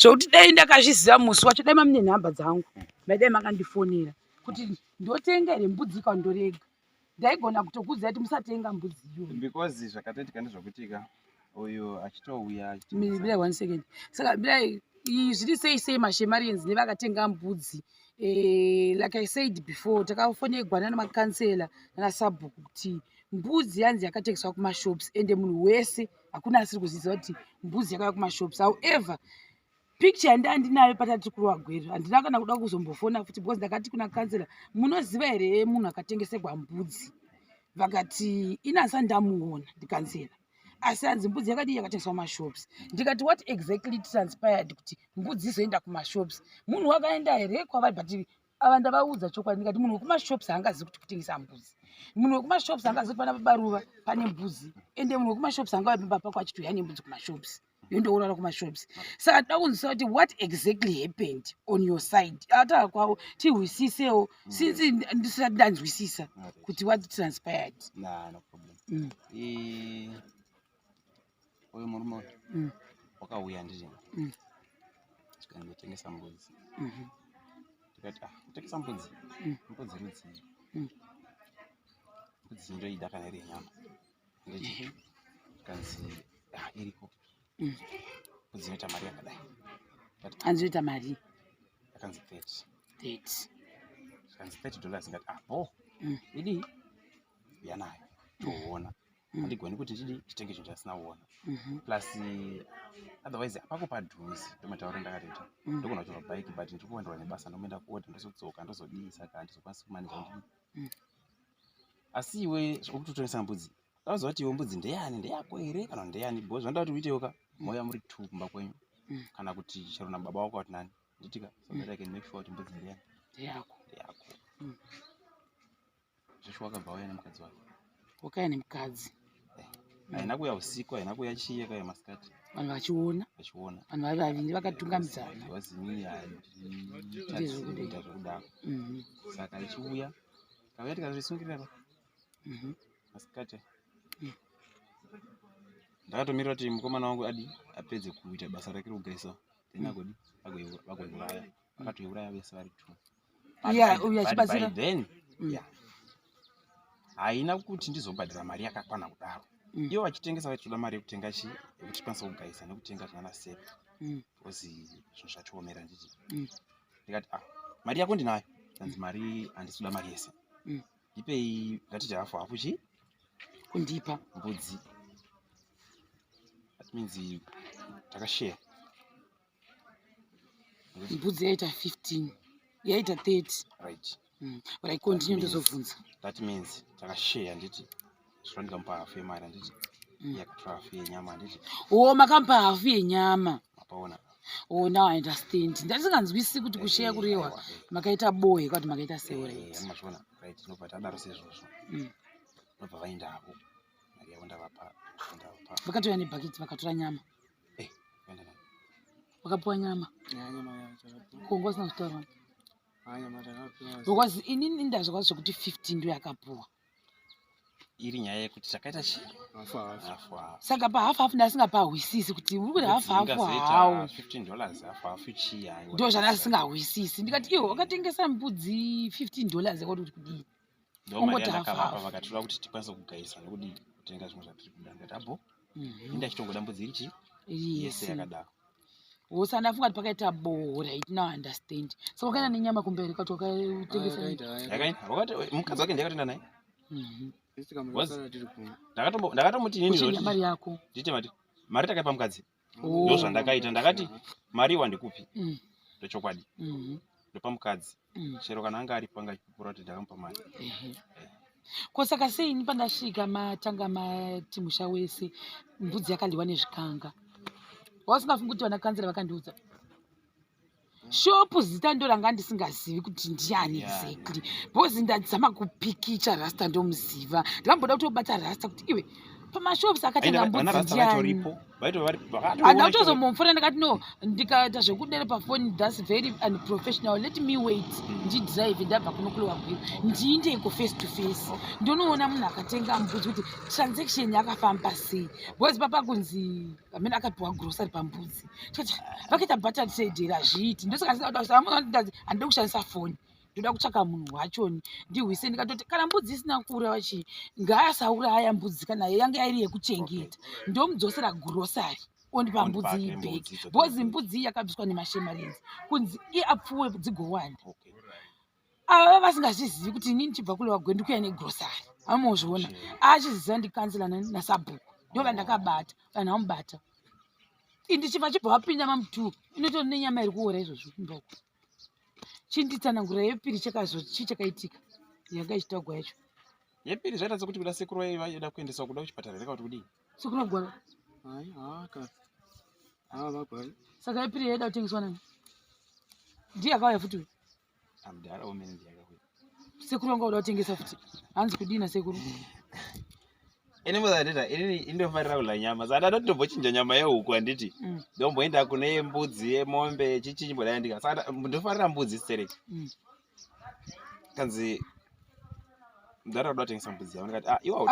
zvokuti dai ndakazviziva musi wacho dai mamune nhamba dzangu maidai makandifonera kuti ndotenga here mbudzi ka ndorega ndaigona kutokuziva kuti musatenga mbudzi iyoyo because zvakatoitika ndezvokutika uyu achitouya mirai one second saka mirai zviri sei sei mashemarians nevakatenga mbudzi eh, like i said before takafonerwa nana makansela nana sabhuku kuti mbudzi yanzi yakatengeswa kumashops ende munhu wese hakuna asiri kuziva kuti mbuzi yakaya kumashops however picture yandi andinayo patati kurowa gwero handina kana kuda kuzombofona futi because ndakati kuna kansela munoziva here munhu akatengesegwa mbudzi vakati inasa ndamuona ndikansela asi hanzi mbudzi yakadii yakatengeswa kumashops ndikati what exactly transpired kuti mbudzi izoenda kumashops munhu wakaenda here kwavari but ava ndavaudza chokwadi ndikati munhu wekumashops haangazivi kuti kutengesa mbuzi munhu wekumashops haangazivi kuti pana babaruva pane mbuzi ende munhu wekumashops hangava pimba pako achitouya nembudzi kumashops yondourara kumashops saka tida kunzisa kuti what exactly happened on your side ataa kwavo tihwisisewo mm. since ndisati ndanzwisisa kuti what transpired mm. uyu murume uyu mm. wakauya ndiri mm. tikandotengesa mbudzi mm-hmm. tikati ah, kutengesa mbudzi mm. mbudzi rudzii mm. mbudzi ndoida kana iri yenyama nditi mm-hmm. kanzi ah, iriko mbudzi inoita mari yakadai anzi inoita mari yakanzi thirty thirty kanzi thirty dollars ngati ah bo idii yanayo toona mm. handigoni kuti ndidi nditenge chinhu chandisina kuona mm-hmm. plus otherwise apako padhuzi ndomataura ndakatoita mm. ndogona kutora bike but ndiri kuwandirwa nebasa ndomoenda kuoda ndozodzoka ndozodii saka handizokwanisi kumanija ndii mm. asi iwe zvokutotongesa mbudzi auziva kuti iwe mbudzi ndeyani ndeyako here kana ndeyani bho zvinoda kuti uitewo ka mouya muri two kumba kwenyu kana kuti chero nababa wako wati nani nditika so that i can make sure kuti mbudzi ndeyani ndeyako ndeyako Joshua akabva auya nemukadzi wake. Wakauya nemukadzi. Eh, haina kuuya usiku, haina kuuya chiye kaya masikati. Vanhu vachiona. Vachiona. Vanhu vari vaviri vakatungamidzana. Vazimi handita zvekudaro. Mhm. Saka ichiuya kauya tikazvisungirira pa. Mhm. Masikati. Mhm. Ndakatomirira kuti mukomana wangu adi apedze kuita basa rake rokugeza. Then agodi agoiuraya. Akatoiuraya vese vari two. haina kuti ndizobhadhira mari yakakwana kudaro mm. ivo vachitengesa vaitoda mari yekutenga chi yekuti tikwanisa kugayisa nekutenga zvana sep mm. bcause zvinhu zvatiomera nditi mm. ndikati a ah, mari yako ndinayo anzi mari handisikuda mari yese ndipei ngatiti hafu hafu chi kundipa mbudzi that means takashare mbudzi yaita 15 yaita 30 right mm. but i continue ndozobvunza that means takashare handiti zvinondika mupa hafu yemari handiti mm. yakatora hafu yenyama handiti o oh, makamupa hafu yenyama apaona o oh, now i understand ndatisinganzwisisi kuti eh, kusheya eh, kurehwa eh. makaita boe kwati makaita seoramazviona right nobva tadaro sezvozvo mm. nobva vaenda havo mari yavo ndavapa vakatouya nebhakiti vakatora nyama Eh, wakapiwa nyama kungo usina kutaura because inini ndazvakwa zvekuti 15 ndo yakapuwa iri nyaya yekuti takaita chi saka pahafu hafu ndasingapahwisisi kuti uri kuti hafu hafu hawo ndo zvandasingahwisisi ndikati iwo wakatengesa mbudzi 15 dollars yakoti kuti kudii ndomari yandakavapa vakatoda kuti tikwanise kugaisa nekuti kutenga zvimwe zvatiri kuda ndikati abo mhm. inda chitongotambudzi chii yese yakadaro hose andafunga kuti pakaita boo right now understand so wakaenda ah. nenyama kumberi kwati wakatengesamukadzi wake ndiyakatoenda naye mhm. ndakatomuti inini yako ndiite mati mari takaipa mukadzi Oh. ndozvandakaita ndakati mari wandikupi mm. ndochokwadi mm-hmm. ndopa mukadzi mm. chero kana anga aripo angachipupura kuti ndakamupa mari mm-hmm. eh. ko saka sei ini pandasvika matanga mati musha wese mbudzi yakaliwa nezvikanga wausingafungi kuti vanakanzira vakandiudza shopu zita ndo ranga ndisingazivi kuti ndiani exactly because ndadzama kupikicha rasta ndomuziva ndakamboda kutobata rasta kuti iwe pamashops akatanga mbudziandianda kutozomomfona ndakati no ndikaita zvekudere pafoni thats very unprofessional let me wait hmm. ndidrive ndabva kunokulewa gwiro ndiindeiko face to face ndonoona munhu akatenga mbudzi kuti transaction yakafamba sei because papa kunzi amene akapiwa grocery pambudzi toti vakaita button said here hazviiti ndosaka ndisaamuzandazi handida kushandisa foni ndoda kutsvaka munhu wachoni ndihwise ndikatoti kana mbudzi isina kuura vachi ngaasaura aya mbudzi kana yange yairi yekuchengeta ndomudzosera grocery ondipa mbudzi iyi bheki bhozi mbudzi iyi yakabviswa nemashemarenzi kunzi iapfuwe dzigowanda ava ah, vasingazvizivi kuti inini chibva kule wagwe ndikuya negrosari amozviona achiziva ah, ndikansela nasabhuku ndo vandakabata vanhu vamubata ndichibva chibva wapinda mamutu inoto nenyama iri kuora izvozvo ndoko chinditsanangura yepiri chakazo chi chakaitika yanga ichitagwa yacho yepiri zvaita sekuti kuda sekuru vaiva yoda kuendeswa kuda kuchipatara here kauti kudii sekuru agwara hai haka ava vagwari saka yepiri yaida kutengeswa nani ndiye akauya futi uyu amdara omene ndiaka kuya sekuru anga oda kutengesa futi hanzi kudii nasekuru ini muzandita inini indofarira kudla nyama saka ndada kutobochinja nyama yehuku handiti mm. ndomboenda kune yembudzi yemombe chichinyi mbodai ndika saka ndofarira mbudzi stereki mm. kanzi mdara kuda kutengesa mbudzi yavo ndikati ah, iwa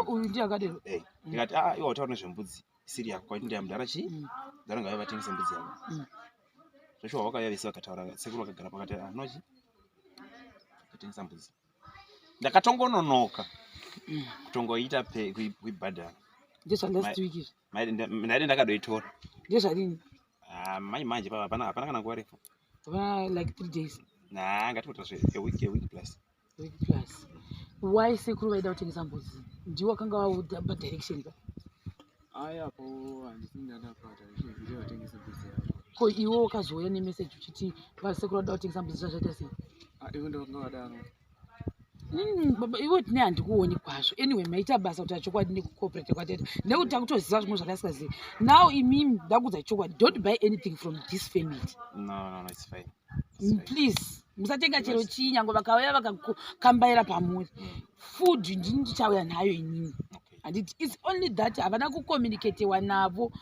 uchaakadero eh, ndikati ah, iwa utaura nezvembudzi mm. siri yako kwaiti ndiya mudhara chii mm. mudhara ngavai vatengese mbudzi yavo mm. zveshuwa vakauya vese vakataura sekuru vakagara pakati anochi ah, atengesa mbudzi ndakatongononoka mm. kutongoita kuibhadhara ndaive ndakadoitora ndezvarini ah, mai manje pava hapana kana nguva refu like three days nah ngatikutasve a week a week plus plus why sekuru vaida kutengesa mbudzi ndiwo akanga vaudza padirection pa ko iwo wakazouya nemeseji uchiti vasekuru vada kutengesa mbudzi zvazvaita sei ah, hmm, baba ivo tine handikuoni kwazvo anyway maita basa kuti achokwadi nekucooperate kwatete nekuti takutoziva zvimwe zvakasingazivi now imimi ndakuudza chokwadi don't buy anything from this family no, no, no, mm, please musatenga chero chii nyange vakauya vakakambaira pamuri food ndini ndichauya nayo inini handiti its only that havana kucommunicatewa navo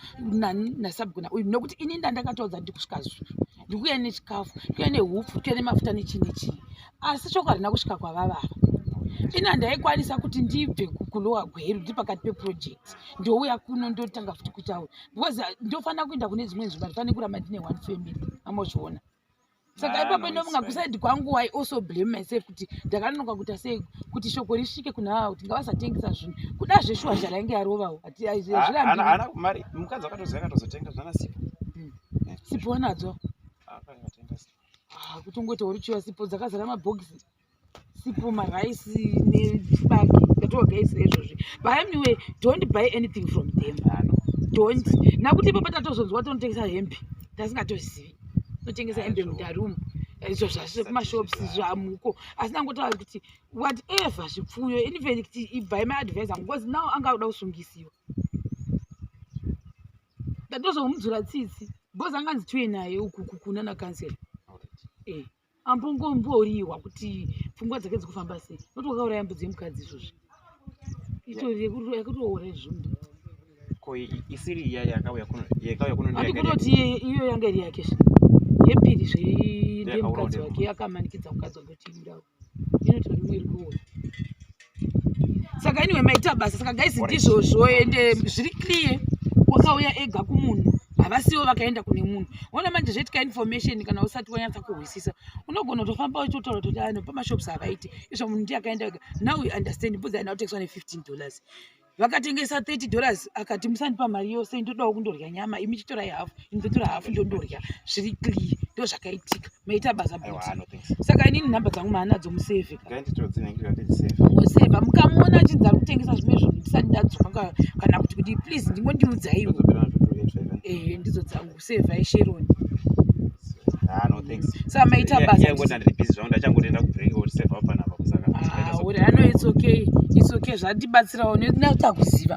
nasabgona uyu nokuti ini ndandakataudza ndiri kusvika zvi ndikuya nechikafu ndikuya nehupfu ndikuya nemafuta nechii nechii asi shoko harina kusvika kwavavava ini handaikwanisa kuti ndibve kulowa gweru ndiri pakati peproject ndouya kuno ndotanga futi kutaura because uh, ndofanira kuenda kune dzimwe nzvimbo ndifane kuramba ndine one family amozviona saka ah, ipapo inonga kusaidi kwangu i also blame myself kuti ndakanonoka kuita sei kuti shoko risvike kuna ava kuti ngavasatengesa zvinhu kuda zveshuwa zvarainge yarovawo atizviramukadzi akatoziva akatozotenga zvana sipo hmm. sipo wanadzo ah, ah, kutongoita uri chiwa sipo dzakazara mabhokisi sipo maraisi nechibaki ndatovaga ise izvozvi but anyway don't buy anything from them don't nakuti ipo patatozonzwa tonotengesa hembe tasingatozivi totengesa hembe mudarumu izvo zvazvo kumashops zvamuko asi nangotaura kuti whatever zvipfuyo even kuti ibvai maadvisor because now anga akuda kusungisiwa ndatozomudzura tsitsi because anganzi tiwe naye uku kunana kansela e eh. ambongomboriwa kuti pfungwa dzake dzikufamba sei noti wakauraya mbudzi yemukadzi izvozvi itoyekutoora izvozvi ko isiri iya yakauya kuno yakauya kuno ndiyo kunoti iyo yanga iri yake zve yepiri zve ndiye mukadzi wake akamanikidza mukadzi wake kuti indawo inotori imwe iri kuona saka anyway maita basa saka guys ndizvozvo ende zviri clear wakauya ega kumunhu havasiwo vakaenda kune munhu ona manje zvaitika information kana usati wanyatsa kuhwisisa unogona kutofamba uchitotaura kuti ano pamashops havaiti izvo munhu ndiye akaenda ega now we understand bvudza anaotekiswa ne-15 dollars vakatengesa 30 dollars akati musandipa mari yose ndodawo kundorya nyama imi chitorai hafu indotora hafu ndondorya zviri clear ndo zvakaitika maita basa but saka inini nhamba dzangu maanadzo museve oseva mukamuona achinzi ari kutengesa zvimwe zvinhu ndisati ndadzoka kana kuti kuti please ndingondiudzaiwo eh, ndidzo dzangu kusevha isheroni ah, samaita basauri ah, ano it's okay it's okay zvandibatsirawo nekuti akuziva